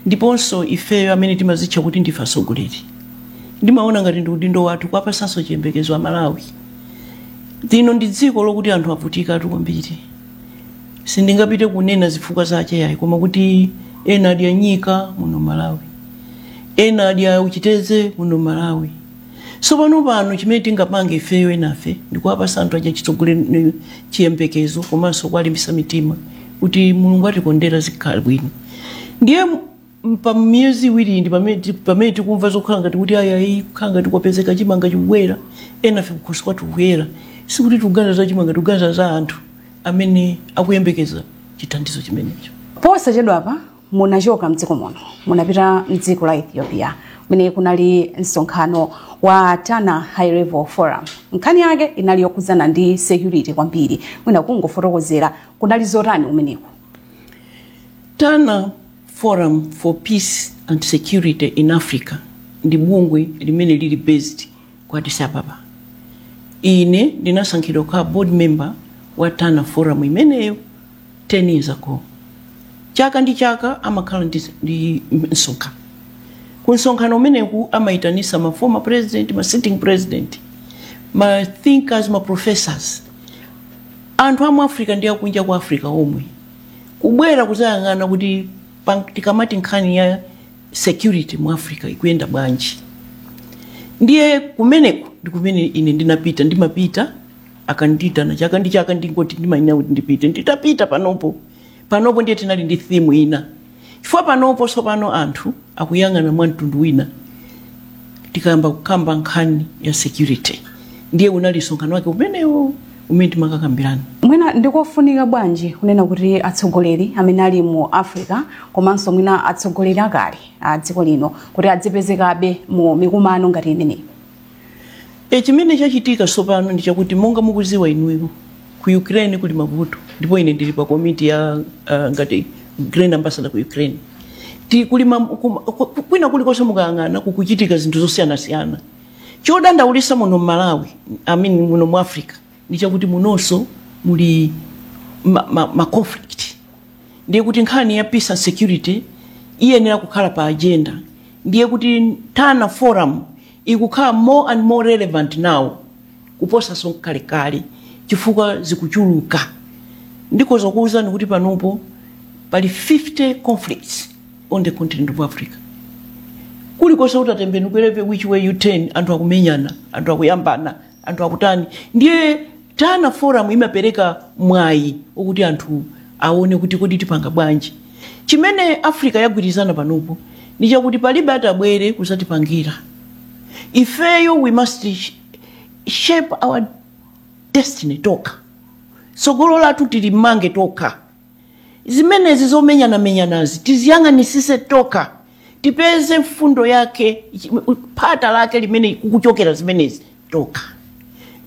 ndiponso ifeyo amene timazitcha kuti ndife atsogoleri ndimaona ngati ndi udindo wathu kuwapatsanso chiyembekezo a malawi lino ndi dziko lokuti anthu avutikatu kwambiri sindingapite kunena zifukwa zache yayi koma kuti ena adya nyika muno malawi ena adya uchiteze muno malawi sopano pano chimene tingapange ifeyo enafe ndikuwapasa anthu aja chitsogoleri chiyembekezo komanso kuwalimbisa mitima kuti mulungu atikondera zikhala bwino ndiye m- pa miyezi iwiri ndi pamene ti- pamene tikumva zokhala ngati kuti ayayi kukhala ngati kwapezeka chimanga chikubwera enafe kukhosi kwathu kuyera sikuti tikuganiza za chimanga tikuganiza za anthu amene akuyembekeza chithandizo chimenecho posachedwapa munachoka mdziko muno munapita mdziko la ethiopia kumene kunali msonkhano wa tana high level forum nkhani yake inali yokhudzana ndi security kwambiri mwina kungofotokozera kunali zotani kumeneko tana forum for peace and security in africa ndi bungwe limene lili based ku addis ababa ine ndinasankhidwa kukhala board member wa tana forum imeneyo 10 years ago chaka ndi chaka amakhala ndi, ndi msonkhano ku msonkhano umeneku amaitanisa ma former president ma sitting president ma thinkers ma professors anthu amu africa ndi akunja kwa africa omwe kubwera kuzayang'ana kuti pa- tikamati nkhani ya security mu africa ikuyenda bwanji ndiye kumeneko ndi kumene ine ndinapita ndimapita akandiitana chaka ndi chaka ndikuti ndimayenera kuti ndipite nditapita panopo panopo ndiye tinali ndi theme ina chifukwa panopo tsopano anthu akuyang'ana mwa mtundu wina tikayamba kukamba nkhani ya security ndiye unali msonkhano wake umenewo umene timakakambirana mwina ndikofunika bwanji kunena kuti atsogoleri amene ali mu africa komanso mwina atsogoleri akale a dziko lino kuti adzipezekabe mu mikumano ngati imeneyi E, chimene chachitika tsopano ndi chakuti monga mukuziwa inuyo ku Ukraine kuli mavuto ndipo ine ndili pa komiti ya uh, ngati Grain Ambassador ku Ukraine ti kuli ma, kuma, kwina kulikonse mukayang'ana kukuchitika zinthu zosiyanasiyana chodandaulisa muno Malawi I mean muno mu Africa ndi chakuti munonso muli ma, ma, ma conflict ndiye kuti nkhani ya peace and security iyenera kukhala pa agenda ndiye kuti Tana Forum ikukhala more and more relevant now kuposaso kalekale chifukwa zikuchuluka ndikoza kuuzani kuti panopo pali 50 conflicts on the continent of africa kulikonse ungatembenukire whichever way you turn anthu akumenyana anthu akuyambana anthu akutani ndiye tana forum imapereka mwayi okuti anthu aone kuti kodi tipanga bwanji chimene africa yagwirizana panopo ndi chakuti palibe atabwere kuzatipangira ifeyo we must sh- shape our destiny tokha tsogolo lathu tilimange tokha zimenezi zomenyanamenyanazi tiziyang'anisise tokha tipeze mfundo yake phata lake limene kukuchokera zimenezi tokha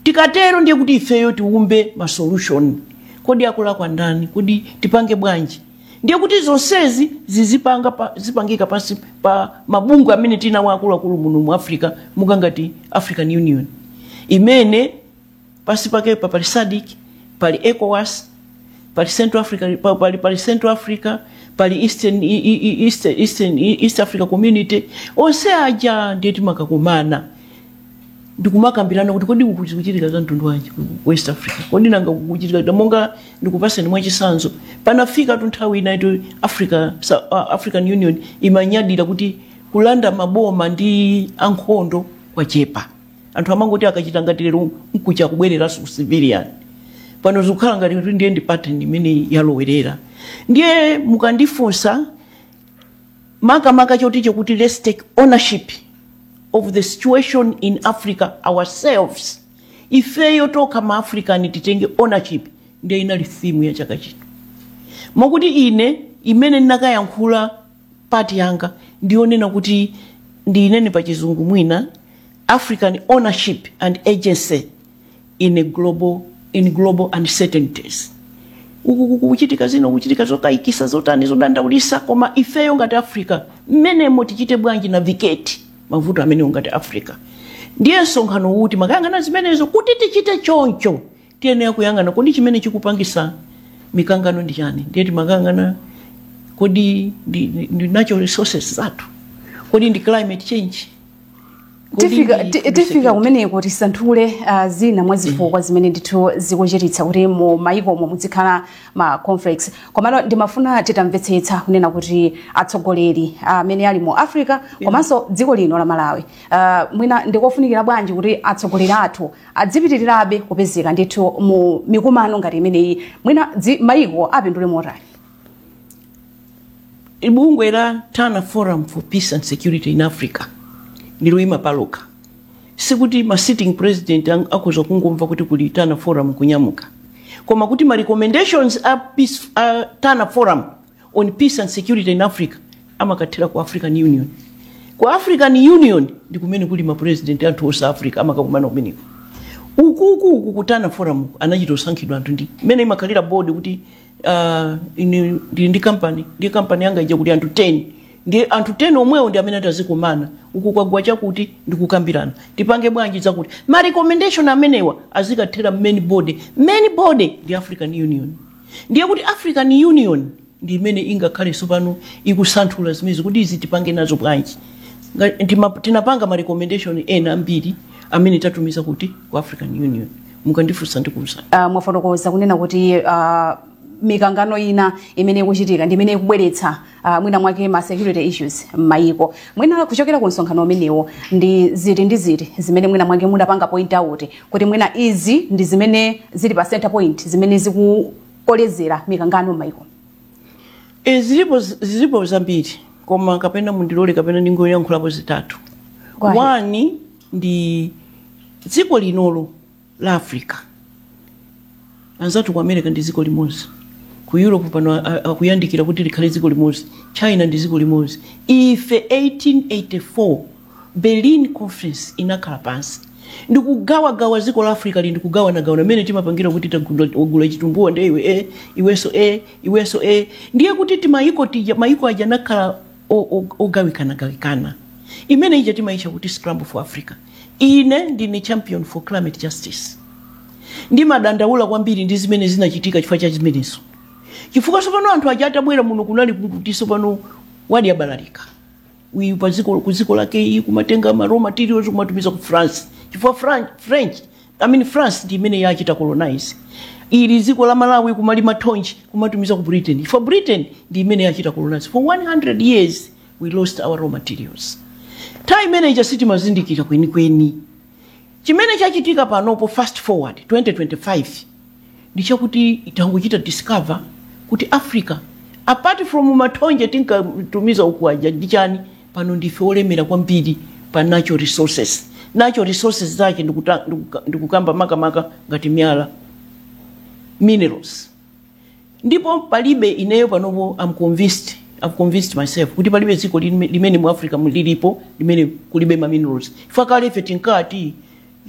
tikatero ndiye kuti ifeyo tiumbe ma solution kodi akulakwa ndani kodi tipange bwanji ndiye kuti zonsezi zizipanga pa, zipangika pansi pa mabungwe amene tinawo akuluakulu muno mu africa monga ngati african union imene pasi pakepa pali sadc pali ecowas pali central africa pa- pali, pali central africa pali eastern, e- e- e- east, eastern, e- east africa community onse aja ndiye timakakumana ndikumakambirana kuti kodi kuku- zikuchitika za mtundu wanji ku ku west africa kodi nanga kukuchitika kuti monga ndikupaseni mwachisanzo panafika tu nthawi inayake yoti africa Sa- uh, african union imanyadira kuti kulanda maboma ndi ankhondo kwachepa anthu amangoti akachita ngati lero nkucha kubwereranso ku civilian pano zikukhala ngati kuti ndiye ndi pattern imene yalowerera ndiye mukandifunsa makamaka n'choti chakuti let's take ownership of the situation in africa ourselves ifeyo tokha ma african titenge ownership ndiye inali theme ya chaka chino mokuti ine imene ndinakayankhula part yanga ndiyonena kuti ndiyinene pa chizungu mwina african ownership and agency in a global in global uncertainties uku kukuchitika zino kuchitika zokayikisa zotani zodandaulisa koma ifeyo ngati africa mmenemo tichite bwanji navigate mavuto amenewo ngati africa ndiye msonkhano uwu timakayang'ana zimenezo kuti tichite choncho tiyenera kuyang'ana kodi chimene chikupangisa mikangano ndi chani ndiye timakayang'ana kodi ndi, ndi, ndi natural resources zathu kodi ndi climate change Kodi tifika ndi ti- food tifika security? kumeneko tisanthule uh, zina mwa zifukwa zimene ndithu zikuchititsa kuti mu mayikomo muzikhala ma conflicts komano ndimafuna titamvetsetsa kunena kuti atsogoleri amene ali mu africa komanso dziko lino la malawi uh, mwina ndikofunikira bwanji kuti atsogoleri athu adzipitirirabe kupezeka ndithu mu mikumano ngati imeneyi mwina dzi- maiko apindule motani bungwe la tana forum for peace and security in africa ndiloyima palokha sikuti ma sitting president ang- akhoza kungomva kuti kuli tana forum kunyamuka koma kuti ma recommendations a, peace, a tana forum on peace and security in africa amakathera ku african union ku african union ndi kumene kuli mapurezidenti anthu onse africa amakakumana kumeneko ukuku uku ku Tana forum anachito sankhidwa anthu ndi imene imakhalira board kuti ah, ine ndili ndi kampani ndi kampani yanga ija kuti anthu 10 ndi anthu 10 omwewo ndi amene atazikumana uku kwagwa chakuti ndikukambirana tipange bwanji zakuti ma recommendation amenewa azikathera main board main board ndi african union ndiye kuti african union ndi imene ingakhale tsopano ikusanthula zimenezi kuti izi tipange nazo bwanji Nga- ndima- tinapanga ma recommendation ena ambiri amene tatumiza kuti ku african union mukandifunsa ndikuuzani uh, mwafotokoza kunena kuti uh, mikangano ina imene ikuchitika ndi imene ikubweretsa uh, mwina mwake ma security issues m'mayiko mwina kuchokera ku msonkhano umenewo ndi ziti ndi ziti zimene mwina mwake mudapanga point out kuti mwina izi ndi zimene zili pa center point zimene zikukolezera mikangano m'mayiko e, zilipo zilipo zambiri koma kapena mundilole kapena ndingoyankhulapo zitatu Go ahead. one ndi dziko linolo la africa anzathu ku america ndi dziko limodzi ku europe pano a- a- akuyandikira kuti likhale dziko limodzi china ndi dziko limodzi ife 1884 berlin conference inakhala pansi ndikugawagawa dziko la africa li ndikugawanagawana mmene timapangira kuti tagula wagula chitumbuwa ndi iwe e iwenso e iwenso e ndiye kuti timayiko tija mayiko aja anakhala o- o- ogawikanagawikana imene ija timayitcha kuti scramble for africa Ine ndine champion for climate justice. Ndimadandaula kwambiri ndi zimene zinachitika chifukwa cha zimenezo. Chifukwa sopano anthu aja atabwera muno kunali kuti sopano wadi abalalika. Uyu pa dziko ku dziko lake iyi kumatenga ma raw materials kumatumiza ku France. Chifukwa Fran- French, I mean France ndi imene yachita colonize. Ili dziko la Malawi kumalima thonje kumatumiza ku Britain. Chifukwa Britain ndi imene yachita colonize for 100 years. we lost our raw materials nthawi imene ija sitinkazindikira kwenikweni chimene chachitika panopo fast forward 2025 ndi chakuti tangochita discover kuti africa apart from mathonje tinkatumiza uku aja ndi chani pano ndife olemera kwambiri pa natural resources natural resources zake ndikuta- ndikuka- ndikukamba makamaka ngati miyala minerals ndipo palibe ineyo panopo am convinced am convinced myself kuti palibe dziko lime- limene mu africa mu- lilipo limene kulibe ma minerals chifukwa kale ife tinkati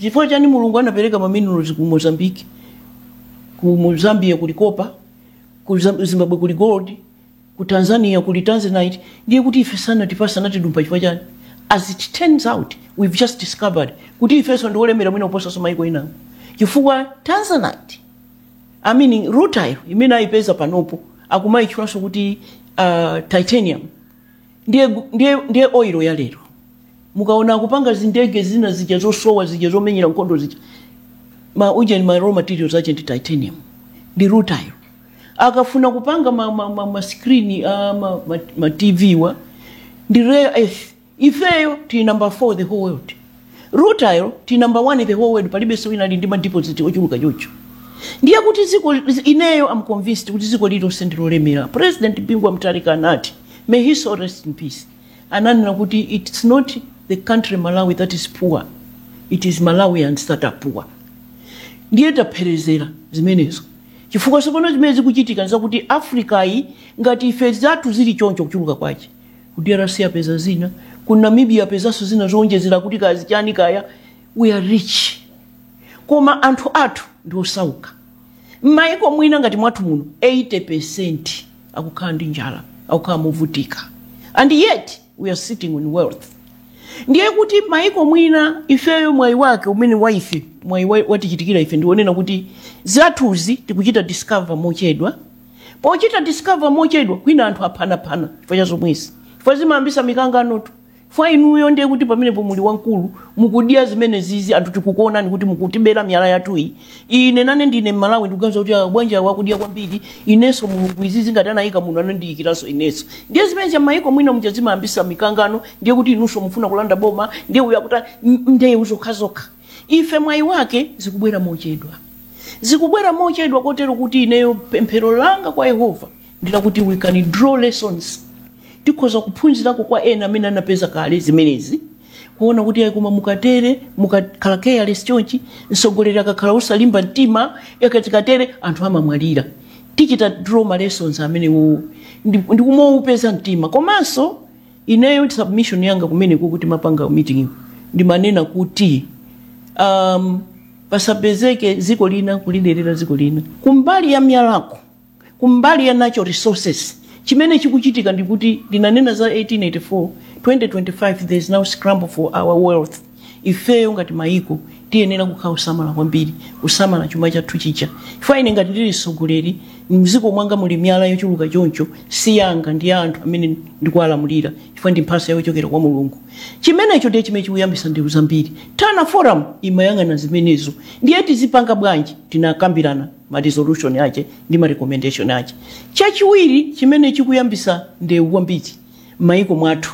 chifukwa chani mulungu anapereka ma minerals ku mozambique ku mu- zambia kuli kopa ku Zam- zimbabwe kuli gold ku tanzania kuli tanzanite ndiye kuti ife sanatipasa anatidumpa chifukwa chani as it turns out we've just discovered kuti ifenso ndi olemera mwina kuposanso maiko inawo chifukwa tanzanite I mean, rutile imene ayipeza panopo akumayitchulanso kuti uh, titanium ndiye, ndiye, ndiye oil ya lero mukaona akupanga zindege zina zija zosowa zija zomenyera nkhondo zija ma ujeni ma raw materials ache ndi titanium ndi rutile akafuna kupanga ma, ma, ma, ma screen uh, ma, ma, ma tv wa ndi rare earth ifeyo tili number 4 the whole world rutile tili number 1 the whole world palibenso wina ali ndi madeposit ochuluka chocho ndiye kuti ziko ineyo am convinced kuti ziko lilonse ndilolemera president bingu wa mutharika anati may his soul rest in peace ananena kuti it's not the country malawi that is poor it is malawians that are poor ndiye taperezera zimenezo chifukwa tsopano zimene zikuchitika nzakuti africa yi ngati ife zathu zili choncho kuchuluka kwache ku drc apeza zina ku namibia apezanso zina zowonjezera kuti kaya chani kaya we are rich koma anthu athu ndi osauka m'mayiko mwina ngati mwathu muno 80% akukhala ndi njala akukhala movutika and yet we are sitting in wealth ndiye kuti mayiko mwina ifeyo mwayi wake umene wa ife mwayi wa- watichitikira ife ndiwonena kuti zathuzi tikuchita discover mochedwa pochita discover mochedwa kwina anthu aphanaphana chifukwa cha zomwezi chifukwa zimayambisa mikanganotu fwa inuyo ndiye kuti pamenepo muli wamkulu mukudya zimenezizi anthu tikukuonani kuti mukutibera miyala yathu iyi ine nane ndine mmalawi ndikuganiza kuti ah, bwanji awa akudya kwambiri inenso mulungu izi ngati anayika muno anandiyikiranso inenso ndiye zimenezo mayiko mwina muja zimayambisa mikangano ndiye kuti inunso mufuna kulanda boma ndiye uyo akuti ndeu zokhazokha Ife mwayi wake zikubwera mochedwa. Zikubwera mochedwa kotero kuti ineyo pemphero langa kwa Yehova ndi lakuti we can draw lessons. Tikhoza kuphunzirako kwa ena amene anapeza kale zimenezi kuona kuti ayi koma mukatere mukakhala careless chonchi mtsogoleri akakhala osalimba mtima yakati katere anthu amamwalira. Tichita draw ma lessons amenewo ndi ndi kumaupeza mtima komanso ineyo submission yanga kumeneko timapanga meeting ndimanena kuti um, pasapezeke dziko lina kuliderera dziko lina kumbali ya myalako kumbali ya natural resources chimene chikuchitika ndikuti ndinanena za 1884 2025 there is now scramble for our wealth ifeyo ngati mayiko tiyenera kukhala osamala kwambiri kusamala chuma chathu chija chifukwa ine ngati ndili mtsogoleri mdziko mwanga muli miyala yochuluka choncho si yanga ndi ya anthu amene ndikuwalamulira chifukwa ndi mphatso yochokera kwa mulungu chimenecho ndiye chimene chikuyambitsa ndewu zambiri tana forum imayang'ana zimenezo ndiye tizipanga bwanji tinakambirana ma resolution ache ndi ma recommendation ache chachiwiri chimene chikuyambitsa ndewu kwambiri m'mayiko mwathu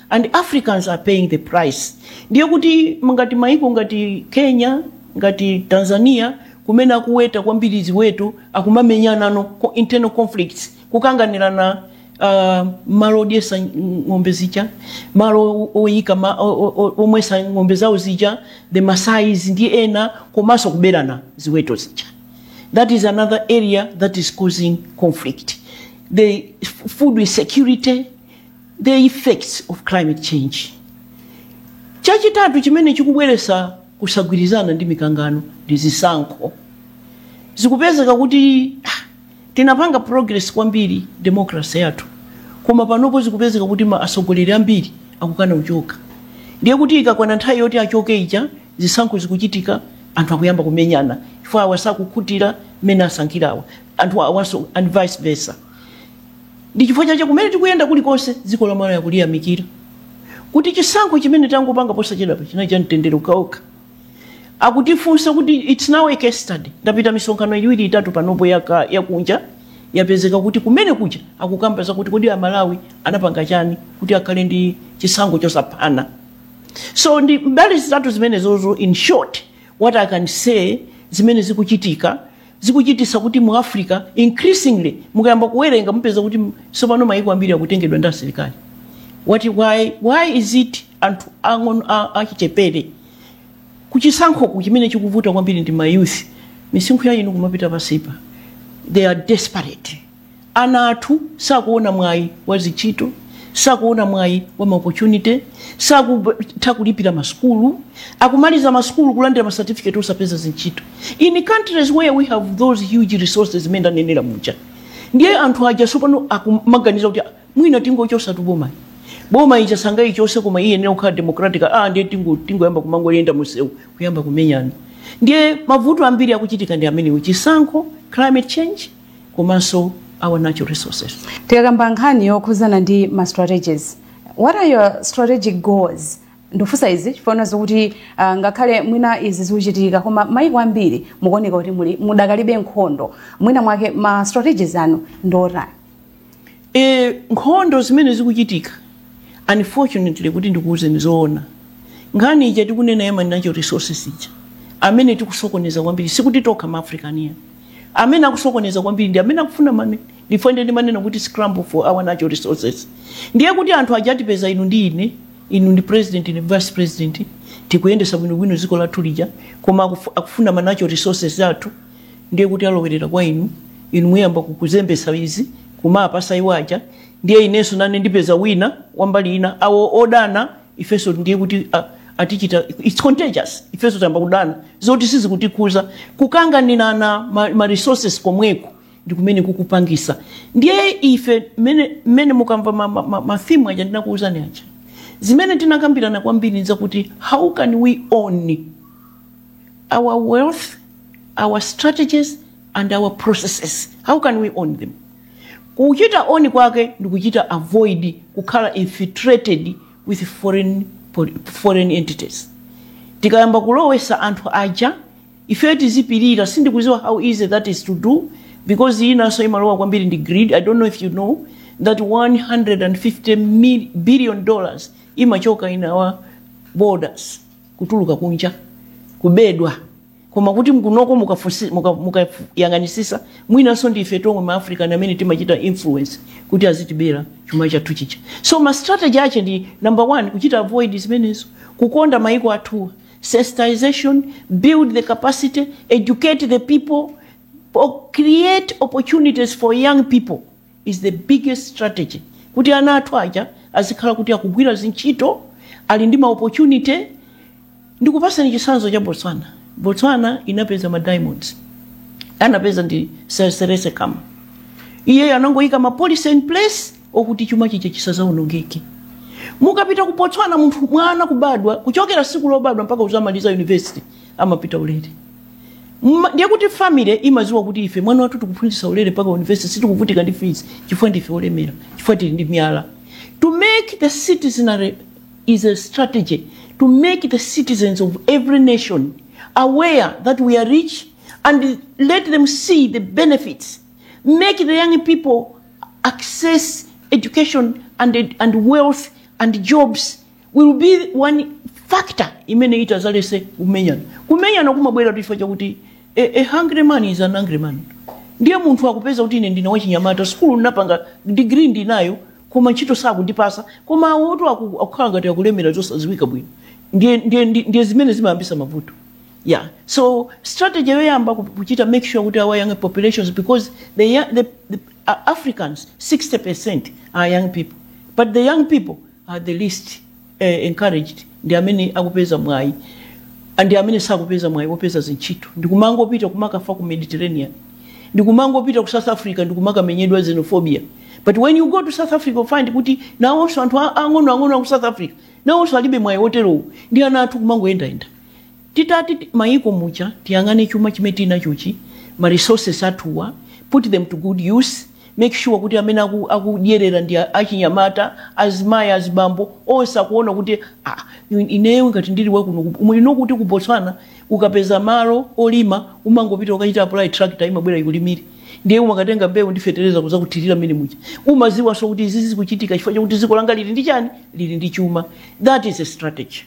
and africans are paying the price ndiye kuti ngati maiko ngati kenya ngati tanzania kumene akuweta kwambiri ziweto akumamenyanano co- internal conflicts kukanganirana uh, malo odyetsa ng- ng'ombe zija malo o- oyika ma- o- o- o- omwetsa ng'ombe zawo zija the masais ndi ena komanso kuberana ziweto zija that is another area that is causing conflict the f- food insecurity the effects of climate change. Chachitatu chimene chikubweretsa kusagwirizana ndi mikangano ndi zisankho. Zikupezeka kuti ah, tinapanga progress kwambiri democracy yathu, koma panopo zikupezeka kuti atsogoleri ambiri akukana kuchoka. Ndiye kuti ikakwana nthawi yoti achoke ija, zisankho zikuchitika, anthu akuyamba kumenyana chifukwa awa sakukhutira mmene asankhirawa, anthu awanso and vice versa. ndi chifukwa chache kumene tikuyenda kulikonse dziko la malawi akuliyamikira kuti chisankho chimene tangopanga posachedwapa chinali cha mtendere ukaokha akutifunsa kuti its now a case study ndapita misonkhano iwiri itatu panopo yaka- yakunja yapezeka kuti kumene kuja akukamba zakuti kodi amalawi anapanga chani kuti akhale ndi chisankho chosaphana so ndi mbali zitatu zimenezozo in short what i can say zimene zikuchitika zikuchititsa kuti mu africa increasingly mukayamba kuwerenga mupeza kuti tsopano mayiko ambiri akutengedwa ndi asilikali why, why is it anthu ang'ono a- achichepere kuchisankhoku chimene chikuvuta kwambiri ndi mayouth misinkhu ya inu kumapita pansipa they are desperate Ana athu sakuona mwayi wa zintchito, sakuona mwayi wa ma opportunity, sakutha kulipira ma sukulu, akumaliza ma sukulu kulandira ma certificate osapeza zintchito in countries where we have those huge resources zimene ndanenera muja. Ndiye anthu aja tsopano akumaganiza kuti "Ah, mwina tingochotsatu bomayi. Boma ija sangayichotse koma iyenera kukhala democratic. Ah, ndiye tingo- tingoyamba kumangoyenda mumsewu kuyamba kumenyana. Ndiye mavuto ambiri akuchitika ndi amenewo, chisankho, climate change, komanso our natural resources tikakamba nkhani yokhudzana ndi ma strategies what are your strategic goals ndikufunsa izi chifukwa zokuti uh, ngakhale mwina izi zikuchitika koma maiko ambiri mukuoneka kuti muli mudakalibe nkhondo mwina mwake ma strategies anu ndiotani e, nkhondo zimene zikuchitika unfortunately kuti ndikuwuzeni zoona nkhani ija tikunena ya ma natural resources ija amene tikusokoneza kwambiri sikuti tokha maafricanfe amene akusokoneza kwambiri ndi amene akufuna mane ndife ndiye ndimanena kuti scramble for our natural resources ndiye kuti anthu aja atipeza inu ndi ine inu ndi president ndi vice president tikuyendetsa bwinobwino dziko lathu lija koma akufu- akufuna ma natural resources athu ndiye kuti alowerera kwa inu inu muyamba kukuzembesa izi kumapasa iwo aja ndiye inenso nane ndipeza wina wambali ina awo odana ifenso ndiye kuti ah, atichita its contagious ifenso tayamba kudana zoti sizikutikhuza kukanganirana ma, ma resources komweko ndi kumene kukupangisa ndiye ife mmene mmene mukamva ma, ma, ma, ma theme aja ndinakuwuzani aja zimene tinakambirana kwambiri nzakuti how can we own our wealth, our strategies and our processes. How can we own them? Kuchita own kwake ndi kuchita avoid kukhala infiltrated with foreign, foreign entities. Tikayamba kulowesa anthu aja ife tizipirira sindikuziwa how easy that is to do because inanso imalowa kwambiri ndi greed. I don't know if you know that 150 mil billion dollars imachoka in our borders. kutuluka kunja kubedwa koma kuti mkunoko mukafunsi- muka- mukayang'anisisa mwinanso ndi ife tomwe ma african amene timachita influence kuti azitibera chuma chathu chija so ma strategy ache ndi number one kuchita avoid zimenezo kukonda maiko athuwa sensitization build the capacity educate the people or create opportunities for young people is the biggest strategy kuti ana athu aja azikhala kuti akugwira zintchito ali ndi ma opportunity ndikupasani chitsanzo cha botswana botswana inapeza ma diamonds anapeza ndi Sir Seretse Khama iyeyo anangoyika ma policy in place okuti chuma chija chisazaonongeke mukapita ku botswana munthu mwana kubadwa kuchokera siku lobadwa mpaka uzamaliza university amapita ulere Ma- ndiye kuti family imaziwa kuti ife mwana wathu tikuphunzitsa ulere mpaka university sitikuvutika ndi fees chifukwa ndife olemera chifukwa tili ndi miyala to make the citizenry is a strategy to make the citizens of every nation aware that we are rich and let them see the benefits make the young people access education and, and wealth and jobs will be one factor imene itazaletse kumenyana kumenyana kumabwera chifukwa chakuti a, a hungry man is an angry man ndiye munthu akupeza kuti ine ndine wachinyamata sukulu ndinapanga degree ndinayo koma ntchito sakundipasa koma awoto aku- akukhala ngati akulemera zosadziwika bwino ndiye, ndiye, ndiye, ndiye zimene zimayambisa mavuto yeah so strategy yoyamba ku- kuchita make sure kuti our young populations because the, young, the, the uh, africans 60 are young people but the young people are the least eh, encouraged ndi amene akupeza mwayi ndi amene sakupeza mwayi wopeza zintchito ndikumangopita kumakafa ku mediterranean ndikumangopita ku south africa ndikumakamenyedwa xenophobia but when you go to south africa you find kuti nawonso anthu a- ang'onoang'ono aku south africa nawonso alibe mwayi wotero ndi ana athu kumangoyendayenda Titati mayiko muja tiyang'ane chuma chimene tili nachochi, ma resources athuwa, put them to good use, make sure kuti amene aku- akudyerera ndi achinyamata, azimayi, azibambo, onse akuwona kuti ah ineyo ngati ndili wa kuno ku, you know kuti ku Botswana ukapeza malo olima umangopita kukachita apply tractor imabwera ikulimire ndiye umakatenga mbewu ndi fetereza kudzakuthirira mmene muja. Umadziwanso kuti izi zikuchitika chifukwa chakuti dziko langa lili ndi chani, lili ndi chuma. That is a strategy.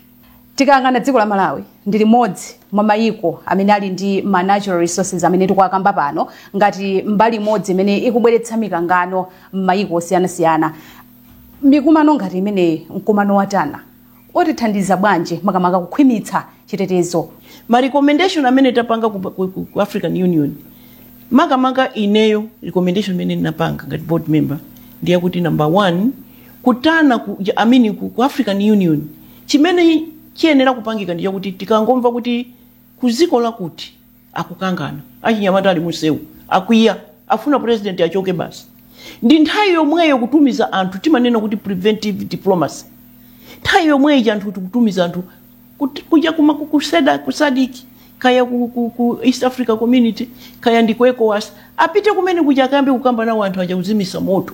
Tikayang'ana dziko la Malawi ndi limodzi mwa mayiko amene ali ndi ma natural resources amene tikuwakamba pano ngati mbali imodzi imene ikubweretsa mikangano m'mayiko osiyanasiyana. Mikumano ngati imeneyi, mkumano wa Tana, utithandiza bwanji makamaka kukhwimitsa chitetezo? Ma recommendation amene tapanga ku, ku, ku, ku African Union makamaka ineyo recommendation imene ndinapanga ngati board member ndi yakuti number one ku Tana ku, I mean, ku, ku African Union chimene chiyenera kupangika ndi chakuti tikangomva kuti ku dziko lakuti akukangana achinyamata ali mumsewu akwiya afuna president achoke basi ndi nthawi yomweyo kutumiza anthu timanena kuti preventive diplomacy nthawi yomweyo anthu tikutumiza anthu Kut- kuja kuma ku, ku SADC, ku SADC kaya ku, ku, ku East Africa Community kaya ndi ku ECOWAS apite kumene kuja akayambe kukamba nawo anthu aja kuzimitsa moto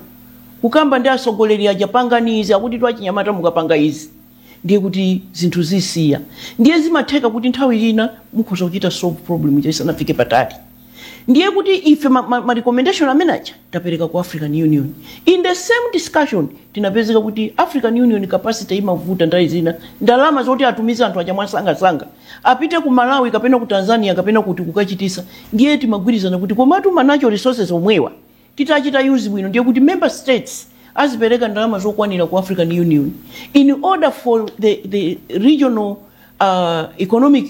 kukamba ndi atsogoleri aja pangani izi akuti twachinyamata mukapanga izi ndiye kuti zinthu zisiya ndiye zimatheka kuti nthawi ina mukhoza kuchita solve problem ija isanafike patali ndiye kuti ife ma, ma, ma recommendation amene aja tapereka ku african union in the same discussion tinapezeka kuti african union capacity imavuta nthawi zina ndalama zoti atumize anthu aja mwasangasanga apite ku malawi kapena ku tanzania kapena kuti kukachititsa ndiye timagwirizana kuti komatu ma natural resources omwewa titachita use bwino ndiye kuti member states azipereka ndalama zokwanira ku african union in order for the, the regional uh, economic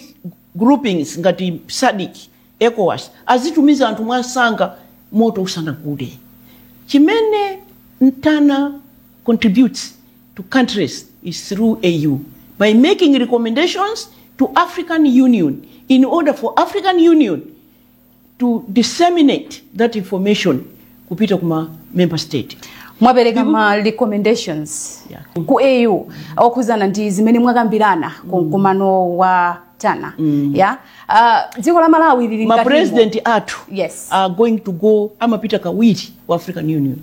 groupings ngati SADC Ecowas azitumiza anthu mwansanga moto usanagude. Chimene ntana contributes to countries is through AU by making recommendations to African Union in order for African Union to disseminate that information kupita kuma member state mwapereka ma recommendations Yeah. ku AU okhudzana ndi zimene mwakambirana ku mkumano wa Tana ya Ah, dziko la malawi lili ma mkati- president athu Yes. are going to go amapita kawiri ku african union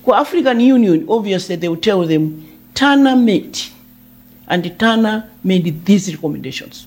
ku african union obviously they will tell them Tana met and Tana made these recommendations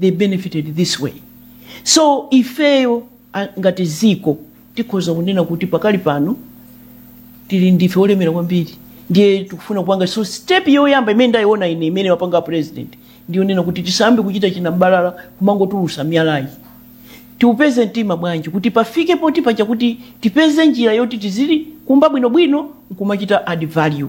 they benefited this way so ifeyo a- ngati dziko tikhoza kunena kuti pakali pano tili ndife olemera kwambiri ndiye tikufuna kupanga so step yoyamba imene ndayiona ine imene wapanga president ndiyonena kuti tisayambe kuchita chinambalala kumangotulutsa miyalayi tiupeze mtima bwanji kuti pafike poti paja kuti tipeze njira yoti tizili kumba bwinobwino nkumachita add value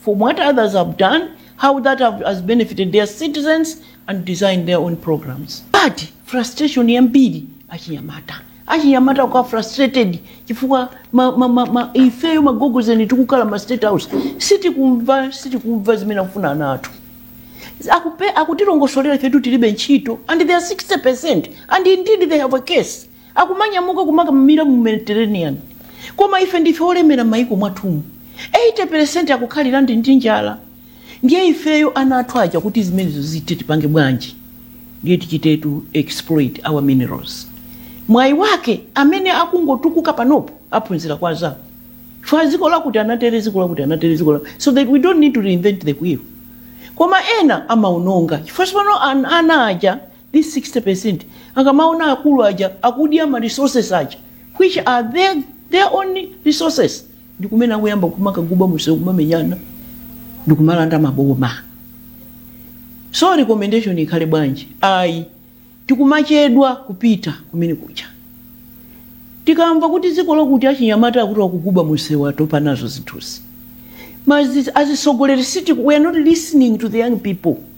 from what others have done, how that have, has benefited their citizens, and design their own programs. But frustration yambiri achinyamata achinyamata ali frustrated chifukwa ma, ma, ma, ma, ifeyo agogozeni tikukhala ma state house sitikumva sitikumva zimene akufuna ana athu aku- akutilongosolera ifetu tilibe ntchito and they are 60 percent and indeed they have a case akumanyamuka kumakamira mu Mediterranean. Koma ife ndife olemera m'mayiko mwathumu, 80 percent akukhalira ndi ndi njala. Ndiye ifeyo ana athu aja kuti zimenezo zithe tipange bwanji? Ndiye tichite exploit our minerals. Mwayi wake amene akungotukuka panopo aphunzira kwa anzawo. Chifukwa dziko lakuti anatere, dziko lakuti anatere, dziko lakuti. So that we don't need to reinvent the wheel. Koma ena amaononga. Chifukwa tsopano an- ana aja This 60% akamaona akulu aja akudya ma resources aja which are their, their own resources ndikumene akuyamba kumakaguba mumsewu kumamenyana ndikumalanda maboma so recommendation ikhale bwanji ayi tikumachedwa kupita kumene kuja tikamva kuti dziko lakuti achinyamata akuti akuguba mumsewu atopa nazo zinthuzi Mas- as atsogoleri siti we are not listening to the young people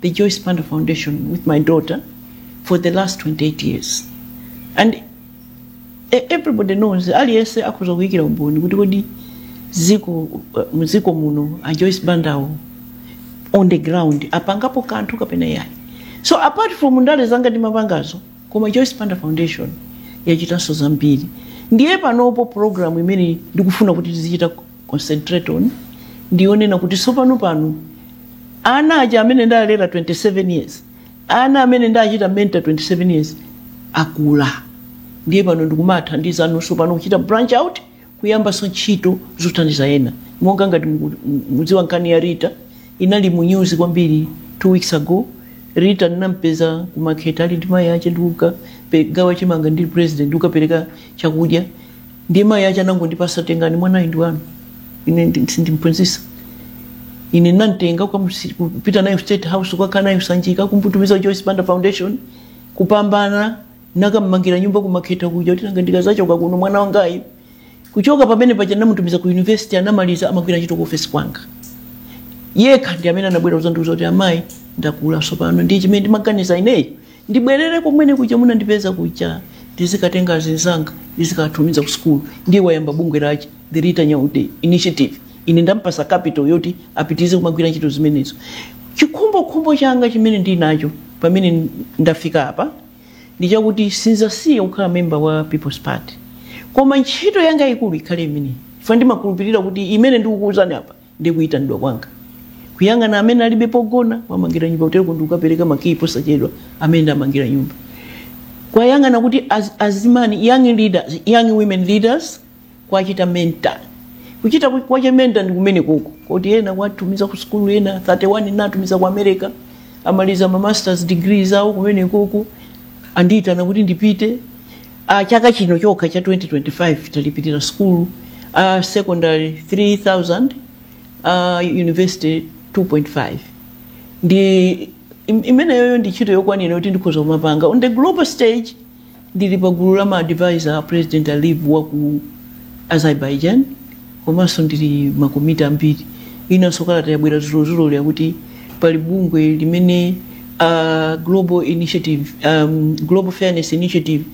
the Joyce Banda Foundation with my daughter for the last 28 years. And e- everybody knows, aliyense akhoza kuikira umboni kuti kodi dziko mdziko muno a Joyce Bandawo on the ground apangapo kanthu kapena yayi. So apart from ndale zanga ndimapangazo, koma Joyce Banda Foundation yachitanso zambiri. Ndiye panopo program imene ndikufuna kuti tizichita concentrate on ndi yonena kuti tsopano pano ana aja amene ndalera 27 years ana amene ndachita mentor 27 years akula ndiye pano ndikumathandizanonso pano kuchita branch out kuyambanso ntchito zothandiza ena monga ngati muku- mu- mudziwa nkhani ya rita inali mu news kwambiri two weeks ago rita ndinampeza kumakheta ali ndi mayi ache ndikukagawa chimanga ndili president ndikukapereka chakudya ndiye mayi ache anangondipatsa tengani mwanayi ndi wanu ine ndi- sindimphunzitsa ine nantenga ukamusi- kupita naye state house kukakhala naye sanjika kumutumiza joyce banda foundation kupambana nakammangira nyumba kumakheta kuja kuti nanga ndikazachoka kuno mwana wangayi kuchoka pamene paja namutumiza ku university anamaliza amagwira ntchito ku ofesi kwanga yekha ndi amene anabwera kuzandiuza kuti amayi ndakula tsopano ndiye chimene ndimaganiza ineyo ndibwerere komwene kuja munandipeza kuja ndizikatenga anzanga ndizikawatumiza ku sukulu ndiye wayamba bungwe lache the rita nyaude initiative ine ndampatsa capital yoti apitirize kumagwira ntchito zimenezo chikhumbokhumbo changa chimene ndili nacho pamene ndafika apa ndi chakuti sinzasiya kukhala memba wa people's party koma ntchito yanga yaikulu ikhale imeneyi chifukwa ndimakhulupirira kuti imene ndikukuuzani apa ndi kuyitanidwa kwanga kuyang'ana amene alibe pogona kuwamangira nyumba kutereko ndikukapereka makiyi posachedwa amene ndamangira nyumba kuwayang'ana kuti az, azimayi young leaders young women leaders kuwachita mentor kuchita ku- kuwachita mentor ndi kumenekoko koti ena kuwatumiza ku sukulu ena 31 ena tatumiza ku america amaliza ma masters degrees awo kumenekoko andiyitana kuti ndipite Uh, chaka chino chokha cha 2025 talipirira sukulu uh, secondary 3000 uh, university 2.5 ndi im- imeneyoyo ndi ntchito yokwanira kuti ndikhoza kumapanga on the global stage ndili pa gulu la maadvisor a president aliyev wa ku azerbaijan komanso ndili m'makomiti ambiri inanso kalata yabwera dzulodzuloli yakuti pali bungwe limene la global initiative um, global fairness initiative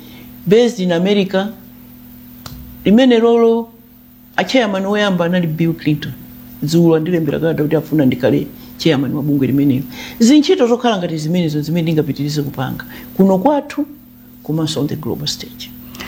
based in america limenelolo a chairman woyamba anali bill clinton dzulo andilembera kalata kuti afuna ndikhale chairman wa bungwe limenelo ndi ntchito zokhala ngati zimenezo zimene ndingapitirize kupanga kuno kwathu komanso on the global stage